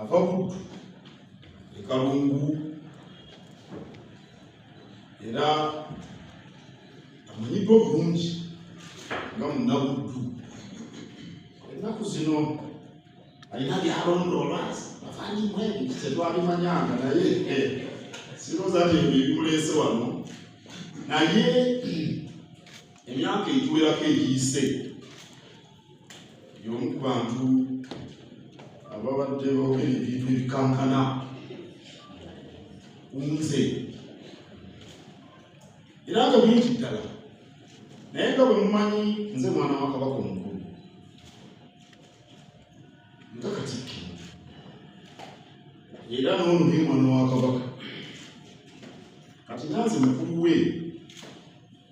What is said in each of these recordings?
ava buddu ekalungu era amanyiddwa obulungi nga munabuddu ennaku zino alina byalondoola afanyimu ebintu tetwabimanyanga naye eh, siroza nti ebyo ebimuleese wano naye emyaka egiwerako egiyise y'omu ku bantu ababadde boogera ebintu ebikankana kunze era nga bingi ddala naye nga bwe mumanyi nze mwana wa kabaka omukulu nga katikkiro era n'ono ye mwana wa kabaka kati nanze mukulu we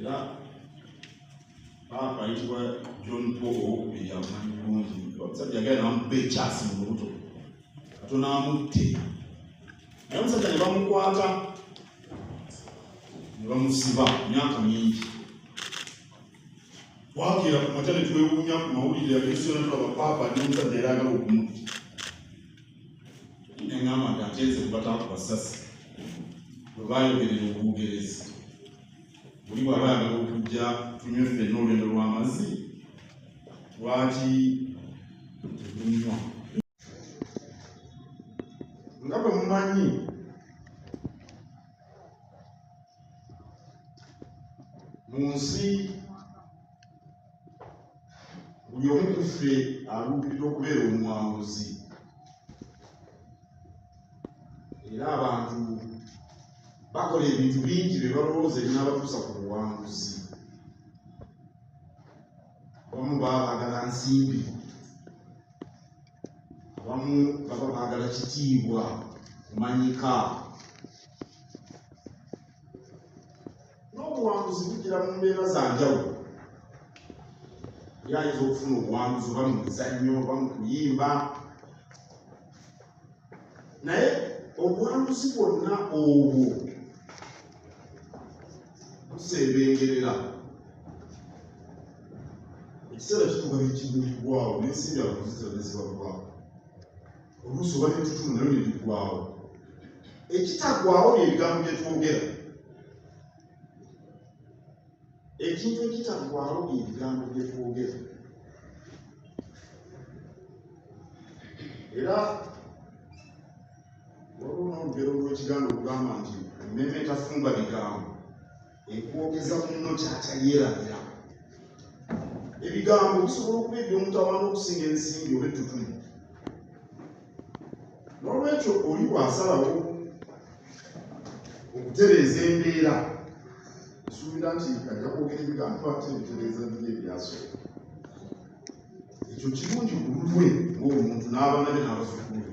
era paapa ayitibwa john paul owokubiri amanyi bulungi omusajja yagala namukuba ekyasi mu lubuto katono amutte naye omusajja ne bamukwata ne bamusiba myaka mingi twakira ku makya ne twewuunya ku mawulire yagesiona tulaba paapa ne omusajja era agala okumutta neŋamba nti ate nze kubataaku basasi bwe bayogerera obugerezi buli wabaana okujja tunywe ffenna olwendo lw'amazzi lwaki tetunywa nga bwe mumanyi mu nsi buli omu ku ffe aluubirira okubeera omuwanguzi era abantu bakola ebintu bingi bye balowooza ebinabatuusa ku buwanguzi abamu baba baagala nsimbi abamu baba baagala kitiibwa kumanyika n'obuwanguzi bujira mu mbeera za njawulo yali ayinza okufuna obuwanguzi oba mu mizannyo oba mu kuyimba naye obuwanguzi bwonna obwo buseebengerera ekiseera kituuka nekimulibwawo n'ensimbi abakuzi zonna zibaggwawo oluusi oba netutumu nayo nebigwawo ekitagwawo byebigambo byetwogera ekintu ekitagwawo byebigambo byetwogera era waliwo nolugero lwekigambo olugamba nti ememe etafumba bigambo ekwogeza munno kyakya yeerabira ebigambo bisobola okuba eby'omutawaana okusinga ensimbi oba ettutuli n'olwekyo oli bw'asalawo okutereeza embeera esuubira nti ajja kwogera ebigambo ate ebitereeza biri ebyasooka ekyo kirungi ku lulwe ng'omuntu n'abanabe n'abazukulu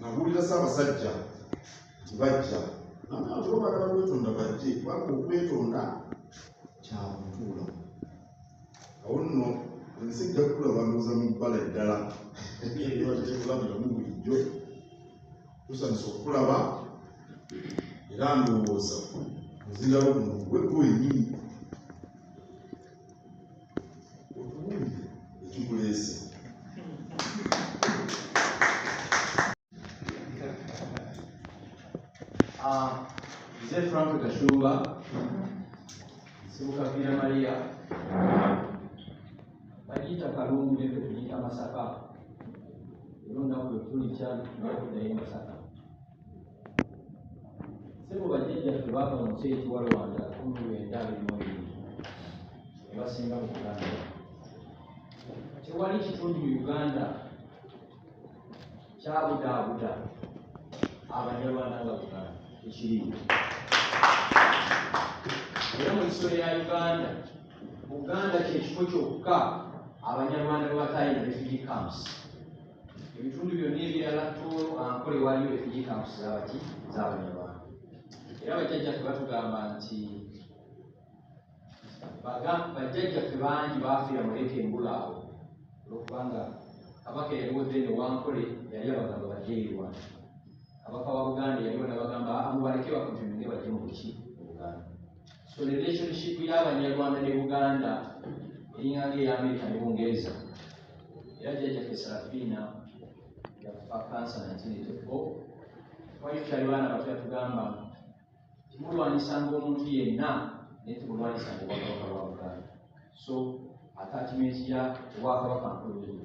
nabuulira ssaabasajja nti bajja nabantu babagala kwetonda bajje kubanga okwetonda kyakutuula awo nno ensi ejja kukula bandoza mu bbala eddala ebatetekulabiramu bulijjo tusanisa okulaba era ndowooza ozirawo muno gwegwenyini Mzee Frank Gashumba Sibukavira Maria bagiyita kalungu ne fe tugiyita masaka era olunaku lwe tuli kyali tunakudayo masaka sebo bajjajjaffe baava mu nsi ekiwa rwanda kumi lwenda abirimuebiri ebasinga mu uganda tewali kitundu mu uganda kyabudaabuda abanyarwanda nga uganda ekiriwo era mu nsiso ya uganda uganda kyekifo kyokka abanyarwanda bwebatayina refugee camps ebitundu byonna ebirala toolo ankole waliyo refugee camps zabaki zabanyarwanda era bajjajjaffe batugamba nti bajjajjaffe bangi baafiira muleka embula awo olwokubanga kabaka eyaliwo then wankole yali abagamba bajeirwa kabaka wa buganda yaliwo nabagamba amubaleke bakujumbire bajje mu buki mu buganda So relationship y'abanyarwanda ne Buganda eringanga eya Amerika ne Bungereza era jjajjaffe Serafiina yafa kansa 1984 twali tukyali baana bato yatugamba timulwanyisanga omuntu yenna naye timulwanyisanga obwakabaka bwa Buganda so attachment ya obwakabaka nkulu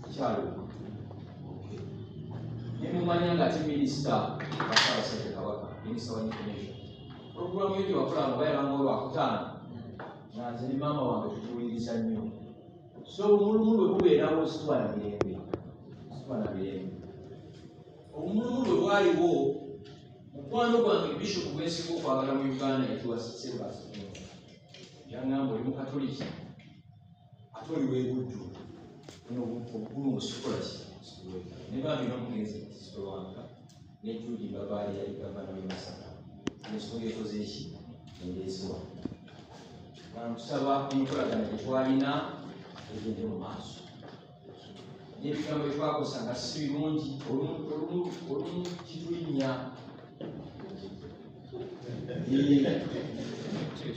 mukyalo nemumanya nga ti minisita basabasajja kabaka minisita wa information programu yo gyewakola nga bayabanga olwakutaano nga nze ne maama wange tutuwuliriza nnyo so omulumu lwe bubeerawo situwa na mirembe situwa na mirembe omulumu lwe bwaliwo mukwano gwange bishopu gwensinga okwagala mu uganda yatuwa sebasiyagamba oli mukatoliki ate oli webuddu obukulu musikola ne bambi nomugenzi kisitolwanga ne judi babaali yali gavana we masaka ensonga ekoze eki endeeziwa bankusaba enkolagana gyetwalina egende mu maaso n'ebigambo bye twakozesa nga si birungi olumu kitulinnya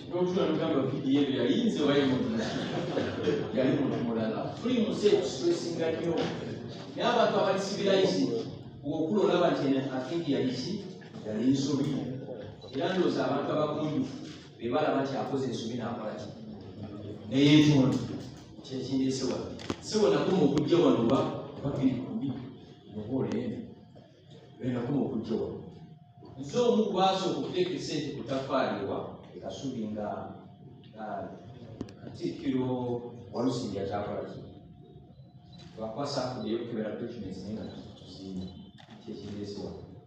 n'otula nogamba vidiyo ebyo yali nze waye muntu yali muntu mulala tuli mu nsi etusiwesinga nnyo naye abantu abali sivilaizi okula olaba nti akingi yaliki yali nsobi era ndooza abantu abagunjufu be balaba nti akoze ensobi n'akola ki naye ntondo kyekindeese wano sebo nakuma okujja wano wa babiri kumbi muhoola eno enakuma okujja wano nze omu kubasooka okuteeka esente ku tafaali wa ekasubi nga katikkiro walusimbi akyakola ki lwakuba saafudeyo kukebera documents naye nga tuzimba kyekindeese wano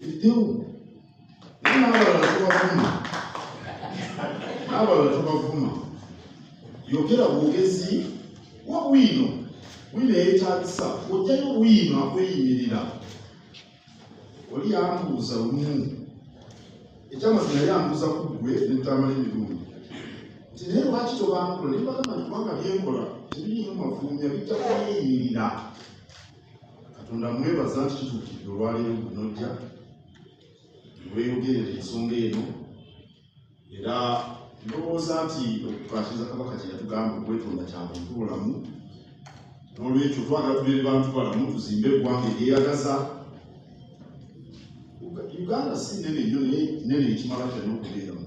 Eyo. Naye n'abalala tubavuma. N'abalala tubavuma. Yogera bwogezi wa bwino. Bwino yeetaagisa. Ojjayo bwino akweyimirira. Oli yambuuza lumu. Ekyamazima yali ambuuza ku ggwe ne mutamala emirundi. Nti naye lwaki tobankula? Ne mbagamba nti kubanga bye nkola tebiriimu mafulumya bijja kweyimirira. katonda mwebaza nti kituukidde olwaleero gunojja weyogerera ensonga eno era ndowooza nti okukwatiriza kabaka kye yatugamba okwetonda kya muntu bulamu n'olwekyo twagala tubeere bantu balamu tuzimbe eggwanga eryeyagaza uganda si nene nyo nene ekimala kyonna okubeeramu